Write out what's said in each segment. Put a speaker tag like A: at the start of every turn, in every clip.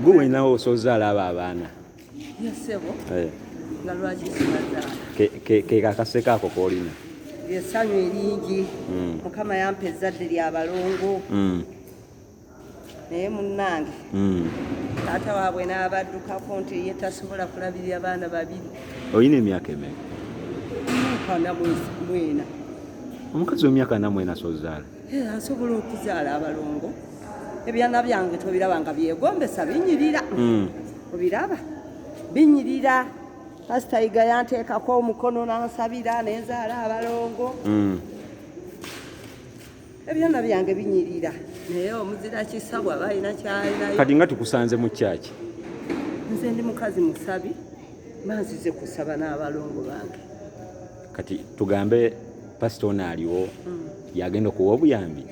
A: gwe wenawo osoza alaba abaana eh.
B: kekakaseko
A: ako kolina esanyu
B: eringi hmm. mukama yampa ezzadde lya balongo hmm. naye munnange hmm. taata waabwe n'abaddukako nti ye tasobola kulabirira baana babiri olina emyaka
A: emeka
B: mwena omukazi
A: wemyaka namwena sozaala Eh, asobola
B: okuzaala abalongo ebyana byange tobiraba nga byegombesa binyirira hmm. obiraba binyirira pasitayiga yanteekako omukono nansabira nenzaala abalongo hmm. ebyana byange binyirira naye omuzira kisa bwaba alina kyalinayo kati nga tukusanze mu
A: kyaki nze
B: ndi mukazi musabi manzize kusaba n'abalongo bange kati
A: tugambe pasita ono aliwo mm. yagenda okuwa obuyambi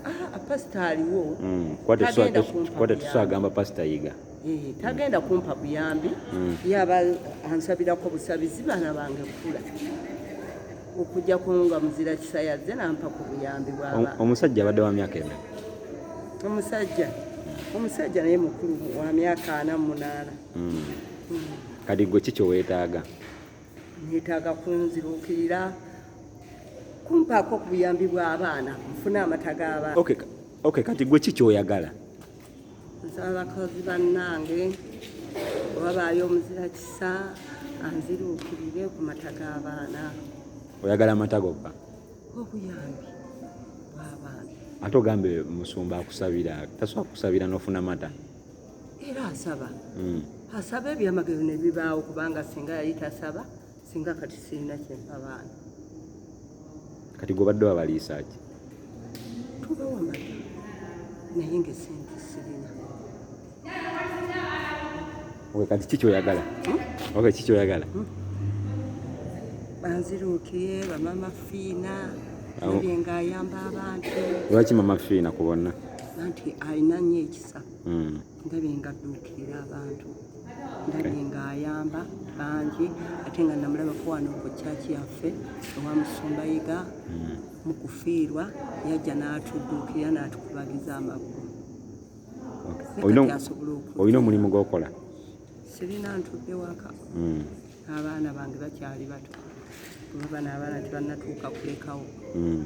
B: ah, pasita aliwo mm.
A: kwate tusagamba pasita yiga eh, tagenda
B: kumpa buyambi mm. yaba ansabirako busabizi baana bange kukula okujja kunga muzira kisa yazze nampa ku buyambi bwaba omusajja abadde wa myaka
A: ena omusajja
B: omusajja naye mukulu wa myaka ana munaana hmm. Hmm.
A: kati gwe ki kyewetaaga netaaga
B: kunzirukirira kumpaako ku buyambi bw'abaana nfune amata g'abaana okay. okay, kati
A: gwe ki kyoyagala nsaba
B: abakozi bannange wabaayo omuzira kisa anziruukirire ku mata g'abaana oyagala
A: amata gokka obuyambi
B: bw'abaana ate ogambe
A: musumba akusabira tasobola kusabira n'ofuna mata era
B: asaba hmm. asaba ebyamagero ne bibaawo kubanga singa yali tasaba singa kati sirina kyempa baana
A: kati gobadde wabaliisaaki tubawa
B: mata naye nga esente sirina
A: owe kati ki kyoyagala hmm? owe ki kyoyagala hmm?
B: banziruukiye bamama fiina ebyenga ayamba abantu lwaki mama fiina
A: kubonna anti alina
B: nnyo ekisa mm. ndabye nga adduukirira abantu ndabye nga ayamba bangi ate nga namulabako wano ku kyaki yaffe ewa musumba yiga mm. mu kufiirwa yajja n'atudduukirira n'atukubagiza amagulu
A: olina omulimu gwokola sirina
B: ntudde waka mm. abaana bange bakyali bato kuba naabaana tebanatuuka kulekawo mm.